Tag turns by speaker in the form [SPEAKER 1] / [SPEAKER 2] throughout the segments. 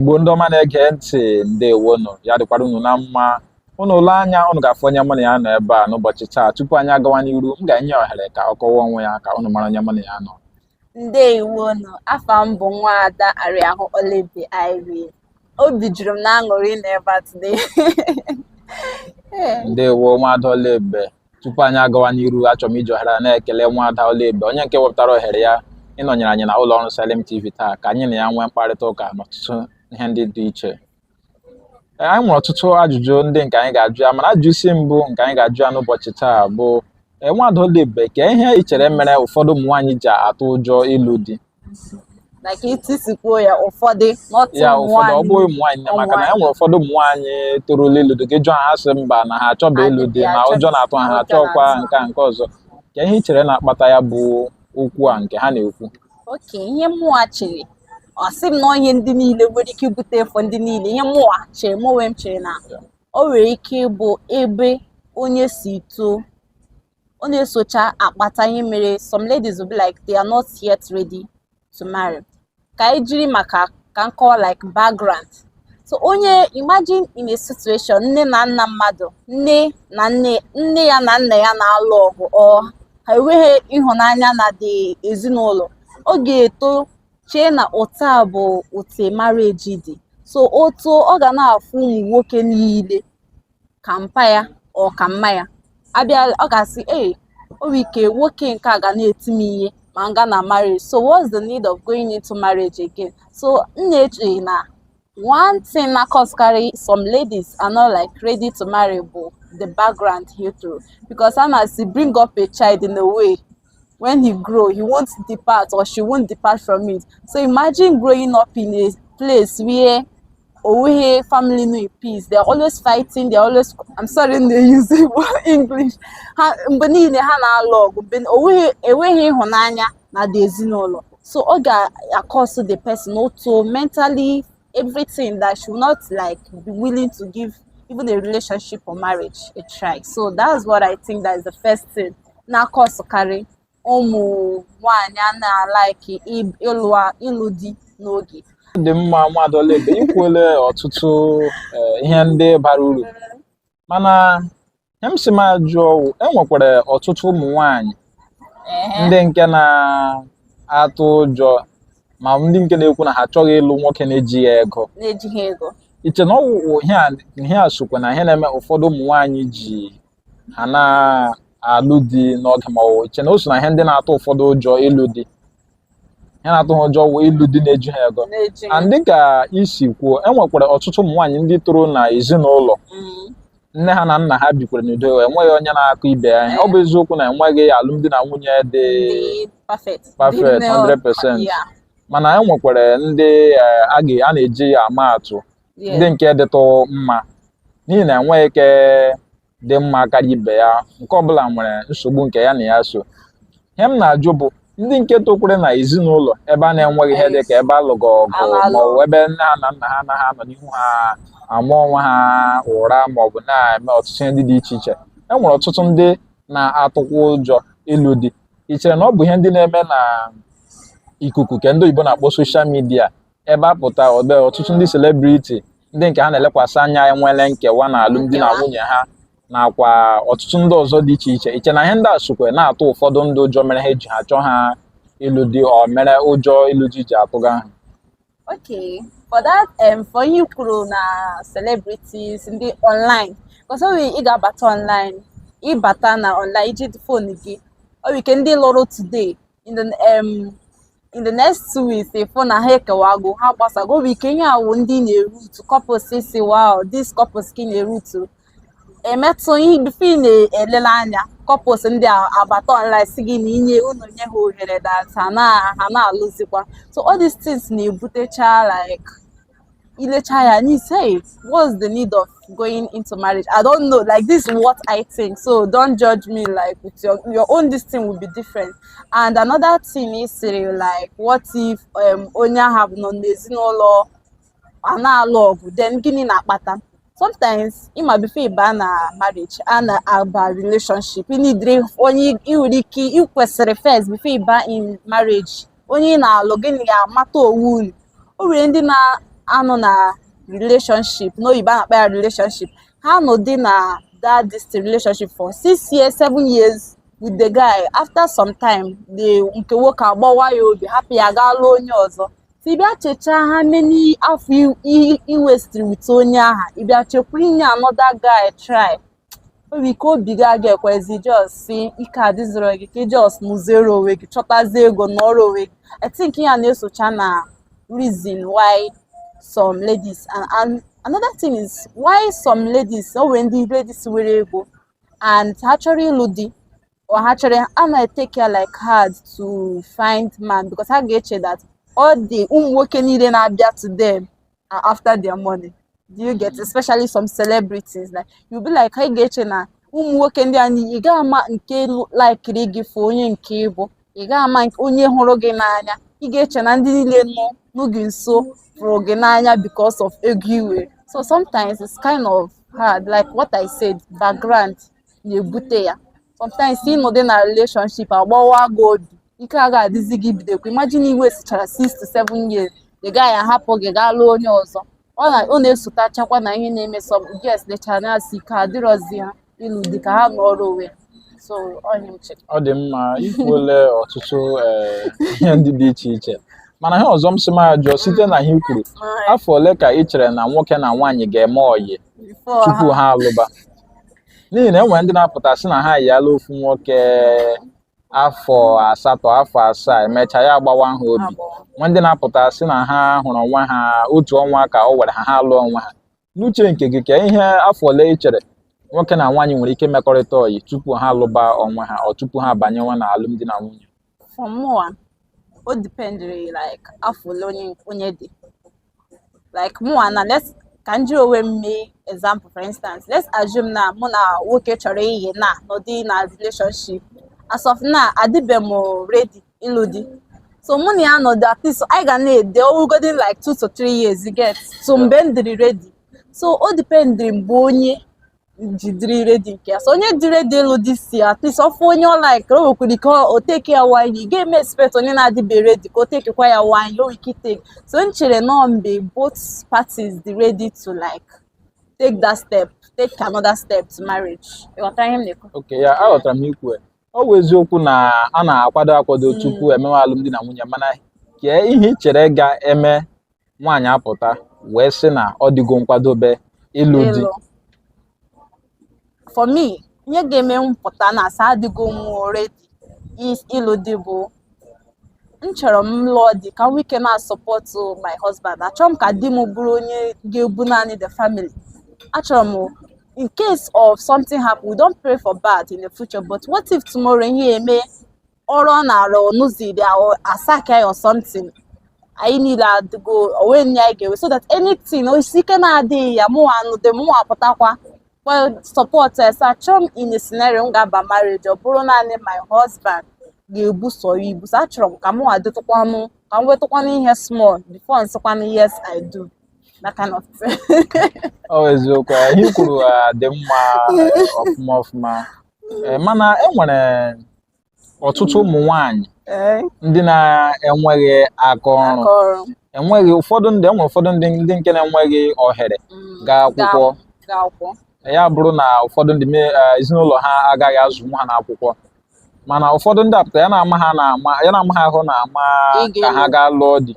[SPEAKER 1] Igbo ndị ọma na-ege ntị ndewonụ ya dịkwara unu na mma unu lee anya unu ga-afụ onye mụ na ya nọ ebe a n'ụbọchị taa tupu anyị agawa n'iru m ga-enye ohere ka ọ kọwaa onwe ya ka unu mara onye mụ na ya nọ
[SPEAKER 2] ndewonụ afa m bụ nwa ada Ariahụ Oluebube Irene obi juru m na aṅụrị na ebe a today
[SPEAKER 1] ndewo nwa ada Oluebube tupu anyị agawa n'iru achọrọ m iji ohere a na-ekele nwaada Oluebube onye nke wepụtara ohere ya ịnọnyere anyị na ụlọ ọrụ Salem TV taa ka anyị na ya nwee mkparịta ụka n'ọtụtụ ihe ndị dị iche Ee, anyị nwere ọtụtụ ajụjụ ndị nke anyị ga-ajụ ya mana ajụjụ isi mbụ nke anyị ga-ajụ ya n'ụbọchị taa bụ ee, nwaada Oluebube kee ihe i chere mere ụfọdụ ụmụ nwaanyị ji atụ ụjọ ịlụ di
[SPEAKER 2] like etu i si kwuo ya ụfọdụ not ya ụmụ ụfọdụ ọ
[SPEAKER 1] bụghị nwaanyị ụmụ nwaanyị na maka na e nwere ụfọdụ ụmụ nwaanyị torula ịlụ di gị jụọ ha sị mba na ha achọba ịlụ di na ụjọ na-atụ ha ha achọkwa nke a nke ọzọ kee ihe i chere na-akpata ya bụ okwu a nke ha na-ekwu okay
[SPEAKER 2] ihe mụwa chere ọ sị m na ihe ndị niile nwere ike ibute ife ndị niile ihe mụwa chere mụ onwe m chere na o nwere ike ịbụ ebe onye si too ọ na-esocha akpata ihe mere some ladies will be like they are not yet ready to marry ka anyị jiri maka ka m kọwa like background so onye imagine in a situation nne na nna mmadụ nne ya na nna ya na-alụ ọgụ or ha enweghị ịhụnanya na the ezinụlọ ọ ga-eto chee na otu a bụ otu marriage dị so otu ọ ga na-afụ ụmụ nwoke niile ka mpa ya or ka mma ya abịa ọ ga-asị ee o nwere ike nwoke nke a ga na-eti m ihe ma m ga na marriage so what's the need of going into marriage again so m na-eche na one thing na-akọsụkarị some ladies are not like ready to marry bụ the background i toro because a na-asị bring up a child in a way when he grow he won't depart or she won't depart from it so imagine growing up in a place where O nweghị family nọ in peace. They're always fighting. They're always I'm sorry I dey use English. Ha mgbe niile ha na-alụ ọgụ. Mgbe o nweghị ịhụnanya na the ezinụlọ. So ọ ga-akọsụ the person both mentally everything that she will not like be willing to give even a relationship or marriage a try. So that's what I think that is the first thing na-akọsụkarị ụmụ nwaanyị a na-alaiki ịlụ di n'oge dị mma
[SPEAKER 1] nwaada Oluebube i kwuole ọtụtụ eh, ihe ndị bara uru mana ihe m sị m ajụọ wụ e nwekwara ọtụtụ ụmụ nwanyị ndị nke na-atụ ụjọ ma ndị nke na-ekwu na ha achọghị ịlụ nwoke na-ejighị ego i che na ọ wụ ihe a sokwa na ihe na-eme ụfọdụ ụmụ nwanyị ji ha na-alụ di n'oge ma ọ i che na o so na ihe ndị na-atụ ụfọdụ ụjọ ịlụ di ihe na-atụ ha ụjọ wụ ịlụ di na-eju ha ego na-eji ya. and dịka i si kwuo e nwekwara ọtụtụ ụmụ nwaanyị ndị toro na ezinụlọ Mm. nne ha na nna ha bikwara n'udo enweghị onye na-akụ ibe ya ihe. ọ bụ eziokwu na enweghị alụmdi na nwunye dị Dị perfect. perfect 100% Yeah. mana e nwekwara ndị eh, a ga- a na-eji ya ama atụ ndị nke dịtụ mma n'ihi na enweghị nke dị mma karịa ibe ya nke ọbụla nwere nsogbu nke ya na ya so ihe m na-ajụ bụ ndị nke tokwere na ezinụlọ ebe a na-enweghị ihe dị ka ebe a lụga ọgụ maọbụ ebe nne ha na nna ha anaghị anọ n'ihu ha ama onwe ha ụra maọbụ na-eme ọtụtụ ihe ndị dị iche iche e nwere ọtụtụ ndị na-atụkwa ụjọ ịlụ di ị chere na ọ bụ ihe ndị na-eme na ikuku nke ndị oyibo na-akpọ social media ebe a pụta ebe ọtụtụ ndị celebrity ndị nke ha na-elekwasị anya enwele nkewa na alụmdi na nwunye ha nakwa ọtụtụ ndị ọzọ dị iche iche i che na ihe ndị a sokwa na-atụ ụfọdụ ndị ụjọ mere ha eji ha chọọ ha ịlụ di o mere ụjọ ịlụ di ji atụga ha
[SPEAKER 2] okay for that um, for ihe i kwuru na celebrities ndị online because ọ ị ga-abata online ị bata na online i ji phone gị o nwere ike ndị lụrụ today in the um, in the next two weeks ị fụ na ha ekewago ha gbasago o nwere ike ihe a wụ ndị na-erutu couples sị wow this couples ka ị na-erutu emetụ ihe before ị na-elele anya couples ndị abata online sị gị na inye unu nye ha ohere that ha na-alụzikwa so all these things na-ebutecha like i lechaa ya and you say what's the need of going into marriage i don't know like this is what i think so don't judge me like with your your own this thing will be different and another thing is say like what if um onye ahụ nọ n'ezinụlọ a na-alụ ọgụ then gịnị na-akpata sometimes ị ma before ịba na marriage a na-aba relationship ị needịrị onye ị nwere ike ị kwesịrị first before ịba in marriage onye ị na-alụ gị na ya mata onwe unu o nwere ndị na-anọ na relationship n'oyibo a na-akpọ ya relationship ha nọdụ na that this relationship for six years seven years with the guy after some time the nke nwoke agbawa ya obi hapụ ya gaa lụọ onye ọzọ so ị bịa chechaa how many afọ i wastiri with onye aha ị bịa chekwa inye another guy try nwere ike obi gị aga ekwezi just sị ike adịzịrọ gị ka ị just mụziere onwe gị chọtazie ego nọrọ onwe gị i think ihe a na-esocha na reason why some ladies and, and another thing is why some ladies o nwere ndị ladies nwere ego and ha achọrọ ịlụ di or ha chọrọ a na-take care like hard to find man because ha ga-eche that all the ụmụ nwoke niile na-abịa to them are after their money do you get especially some celebrities like you be like ha ga-eche na ụmụ nwoke ndị a niile ị gaghị ama nke laikiri gị for onye nke ị bụ ị gaghị ama nke- onye hụrụ gị n'anya ị ga-eche na ndị niile nọ gị nso fụrụ gị n'anya because of ego i nwe so sometimes it's kind of hard like what I said background na-ebute ya sometimes ị nọdụ na relationship agbawa gị obi ike aga adịzi gị ibidokwa imagine i westichara 6 to 7 years the guy ahapụ gị gaa lụọ onye ọzọ ọ na-esotachakwa na ihe na-eme some girls lechara na-asị ike adịrọzi ha ịlụ di ka ha nọrọ onwe ha ọ dị
[SPEAKER 1] mma i kwuole ọtụtụ eh, ihe ndị dị iche iche mana ihe ọzọ m sị m ajụọ site na ihe i kwuru afọ ole ka ị chere na nwoke na nwaanyị ga-eme ọyị tupu ha alụba n'ihi na e nwere ndị na-apụta sị na ha yiala ofu nwoke afọ asatọ afọ asaa emechaa ya agbawa ha obi nwee ndị na-apụta sị na ha hụrụ onwe ha otu ọnwa ka o were ha ha alụọ onwe ha n'uche nke gị kee ihe afọ ole ị chere nwoke na nwaanyị nwere ike mekọrịta ọyị tupu ha lụba onwe ha or tupu ha abanyewa na alụmdi na nwunye for
[SPEAKER 2] mụwa o dependere like afọ ole onye dị like mụwa now let's ka m jiri onwe m mee example for instance let's assume na mụ na nwoke chọrọ ihe na nọdụ na relationship as of now adịbe m ready ịlụ di so mụ na ya nọdụ at least anyị ga na-edate ọ wụgodi like two to three years you get so mgbe m dịrị ready so o dependere mgbe onye ji dịrị ready nke ya so onye dị ready ịlụ di sị at least ọ fụ onye ọ like o nwekwara ike o teke ya one year ị ga-eme expect onye na-adịbe ready ka o tekekwa ya one year o nwere ike iteke so m chere na ọ mgbe both parties dị ready to like take that step take another step to marriage ị ghọtara ihe m na-ekwu okay yeah aghọtara
[SPEAKER 1] m ikwu ya. ọ bụ eziokwu na a na-akwado akwado tupu emewe alụmdi na nwunye mana kee ihe ị chere ga-eme nwaanyị apụta wee sị na ọ dịgo nkwadobe ịlụ di
[SPEAKER 2] for me ihe ga-eme m pụta na-asị adịgo m ready ịlụ di bụ m chọrọ m lụọ di ka m nwee ike na-asupport my husband achọrọ m ka di m bụrụ onye ga-ebu naanị the family achọrọ m in case of something happen we don't pray for bad in the future but what if tomorrow ihe eme ọrụ ọ na-arụ ọnụziri a sack ya or something anyị niile adịgo o nwee ihe anyị ga-ewe so that anything ọ sị ike na-adịghị ya mụnwa anụdị mụnwa apụtakwa wee support us achọ m in a scenario m ga-aba marriage ọ bụrụ naanị my husband ga-ebu sọ ya ibu so achọrọ m ka mụnwa dịtụkwanụ ka m wetụkwanụ ihe small before m sịkwanụ yes I do that kind of thing. ọ eziokwu
[SPEAKER 1] ihe i kwuru dị mma ọfụma ọfụma mana enwere ọtụtụ ụmụ nwanyị eh. ndị na-enweghị aka ọrụ enweghị ụfọdụ ndị enwere ụfọdụ ndị ndị nke na-enweghị ohere mm, gaa akwụkwọ ya bụrụ na ụfọdụ ndị eh, ezinụlọ ha agaghị azụnwu ha n'akwụkwọ mana ụfọdụ ndị apụta ya na-ama ha ahụ na-ama ka ha gaa lụọ di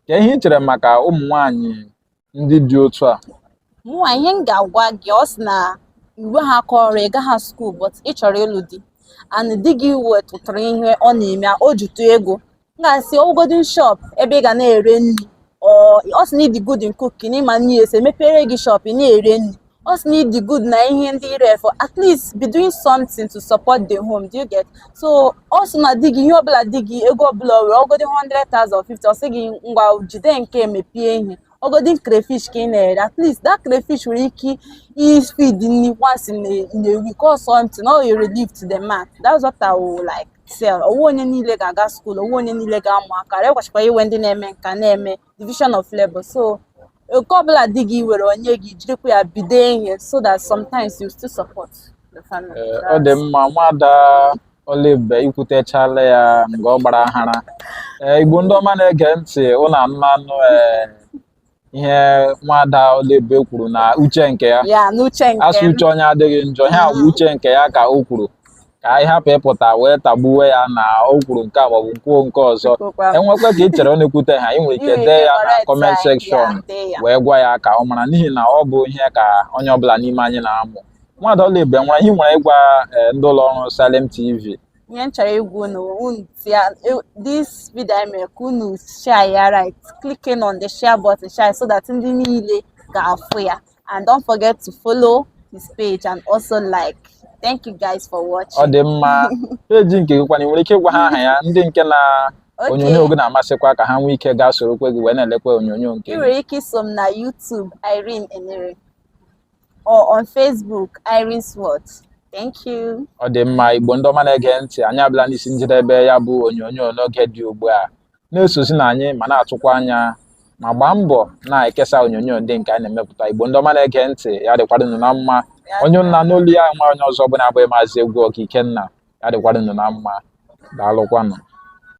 [SPEAKER 1] ka ihe ị chere maka ụmụ nwanyị ndị dị otu a mụnwa ihe
[SPEAKER 2] m ga-agwa gị ọ sị na i weghị aka ọrụ ị gaghị skuul but ị chọrọ ịlụ di and di gị wetụtara ihe ọ na-eme o jitụ ego m ga-asị ogodi shop ebe ị ga na-ere nri ọ sị na ị dị good in cooking ị ma nri esi emepere gị shop ị na-ere nri ọ sị na ị dị good na ihe ndị ire efe at least be doing something to support the home do you get so ọ sị na di gị ihe ọbụla di gị ego ọbụla were ogodi 100,000 50 ọ sị gị ngwa jide nke mepee ihe ogodi crayfish ka ị na-ere at least that crayfish nwere ike ifeed nri once in a, in a week or something ọ relievetụ the man that's what I would like say ọ bụghị onye niile ga-aga skuul ọ bụghị onye niile ga-amụ aka ọrụ ekwesịkwa iwe ndị na-eme nke a na-eme division of labor so nke ọbụla di gị were ọ nye gị jirikwa ya bido ihe so that sometimes you still support the family ọ dị mma
[SPEAKER 1] nwada Oluebube i kwutechala ya nga ọ gbara ahara igbo ndị ọma na-ege ntị unu anụlanụ ihe nwada Oluebube kwuru na uche nke ya a
[SPEAKER 2] sị uche onye adịghị njọ
[SPEAKER 1] ihe a bụ uche nke ya ka o kwuru ka anyị hapụ ịpụta wee tagbuwe ya na o kwuru nke a maọbụ kwuo nke ọzọ enwekwa ka ị chere ọ na-ekwuteghị ị nwere ike dee ya na comment section wee gwa ya ka ọ mara n'ihi na ọ bụ ihe ka onye ọbụla n'ime anyị na-amụ nwada Oluebube nwere ihe ị nwere ịgwa eh, ndị ụlọ ọrụ Salem TV ihe m chọrọ
[SPEAKER 2] ịgwa unu unu tia this video anyị mere ka unu share ya by clicking on the share button share so that ndị niile ga-afụ ya and don't forget to follow this page and also like thank you guys for watching ọ dị
[SPEAKER 1] mma peji nke gị kwanụ i nwere ike ịgwa ha aha ya ndị nke na onyonyo gị na-amasịkwa ka ha nwee ike gaa sorokwa gị wee na-elekwa onyonyo nke gị ị nwere ike iso
[SPEAKER 2] m na YouTube Irene Enere or on Facebook Irene Swart Thank you. ọ dị mma igbo ndị
[SPEAKER 1] ọma na-ege ntị anyị abịala n'isi njedebe ya bụ onyonyo n'oge dị ugbu a na-esozi na anyị ma na-atụkwa anya ma gbaa mbọ na-ekesa onyonyo ndị nke anyị na-emepụta igbo ndị ọma na-ege ntị ya dịkwara ụnụ na mma onye ụnụ na-anụ olu ya nwa onye ọzọ bụ na-abụghị maazị egwu ọka ikenna ya dịkwara ụnụ na mma daalụkwanụ